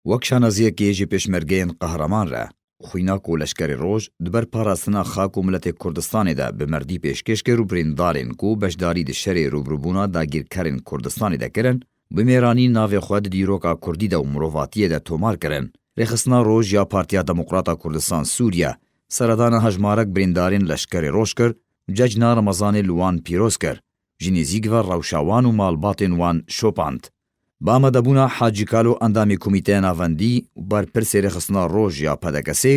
Wek şanaziyekê ji pêşmergeyên qehreman re, xwîna ku Leşkerê Roj di ber parastina xak û miletê Kurdistanê de bi merdî pêşkêş kir û birîndarên ku beşdarî di şerê rûbrûbûna dagîrkerên Kurdistanê de kirin, bi mêranî navê xwe di dîroka kurdî de û mirovatiyê de tomar kirin. Rêxistina Roj ya Partiya Demokrata Kurdistan Sûriye, seredana hejmarek birîndarên Leşkerê Roj kir û cejna Remezanê li wan pîroz kir, ji nêzîk ve rewşa wan û malbatên wan şopand. Bi amadebûna Hacî Kalo endamê Komîteya Navendî û Berpirsê Rêxistina Roj ya PDKS'ê,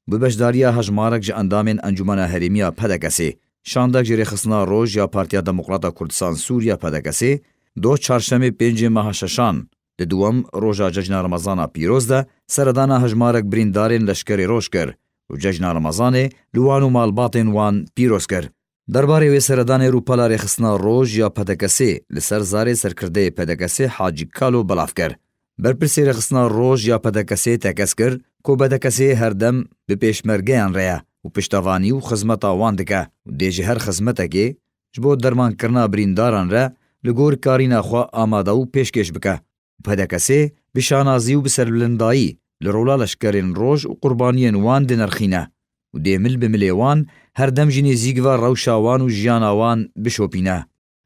bi beşdariya hejmarek ji endamên Encûmena Herêmî ya PDKS'ê, şandek ji Rêxistina Roj ya Partiya Demokrata Kurdistan Sûriye, PDKS'ê, doh Çarşemê pêncê meha şeşan, di dûwem roja Cejna Remezana Pîroz de seredana hejmarek birîndarên Leşkerê Roj kir û Cejna Remezanê li wan û malbatên wan pîroz kir. Derbarê wê seredanê Rûpala Rêxistina Roj ya PDK'sê li ser zarê serkirdeyê PDK'sê Hacî Kalo belav kir. Berpirsê Rêxistina Roj ya PDK'sê tekez kir ku PDK'sê her dem bi pêşmergeyan re ye û piştevanî û xizmeta wan dike û dê ji her xizmetekê ji bo dermankirina birîndaran re li gor karîna xwe amade û pêşkêş bike. PDK'ê bi şanazî û bi serbilindayî li rola leşkerên roj û qurbaniyên wan dinirxîne û dê mil bi milê wan her dem jî nêzîk ve rewşa wan û jiyana wan bişopîne.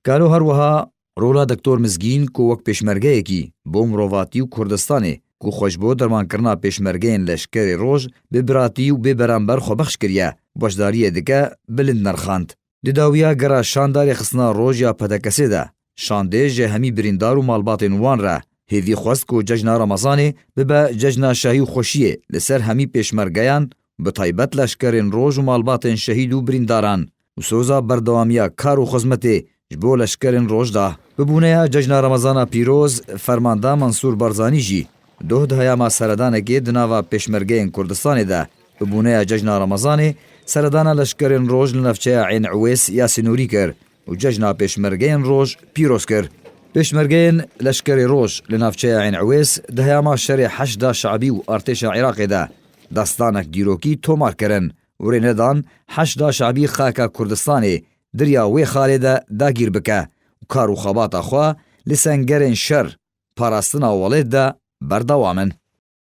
Galo her wiha rola Doktor Mizgîn ku wek pêşmergeyekî bo mirovatî û Kurdistanê ku xwe ji bo dermankirina pêşmergeyên leşkerê roj bi biratî û bê beramber xwebexş kiriye, beşdariyê dike bilind nirxand. Di dawiya gera şandarê xistina roj ya PDKS'ê de, şandê ji hemî birîndar û malbatên wan re hêvî xwest ku cejna Remezanê bibe cejna şahî û xweşiyê li ser hemî pêşmergeyan bi taybet leşkerên roj û malbatên şehîd û birîndaran û soza berdewamiya kar û xizmetê ji bo leşkerên roj da. Bi bûneya cejna Remezana pîroz, Fermanda Mansûr Barzanî jî doh di heyama seredanekê di nava pêşmergeyên Kurdistanê de Bi bûneya cejna Remezanê seredana leşkerên roj li navçeya Ên Ewês ya Sinûrî kir û cejna Pêşmergeyên Roj pîroz kir. Pêşmergeyên Leşkerê Roj li navçeya Ên Ewês di heyama şerê Heşda Şe'bî û artêşa Iraqê de destanek dîrokî tomar kirin û rê nedan Heşda Şe'bî xaka Kurdistanê dirya wê xalê de dagîr bike û kar û xebata xwe li sengerên şer, parastina welêt de berdewam in.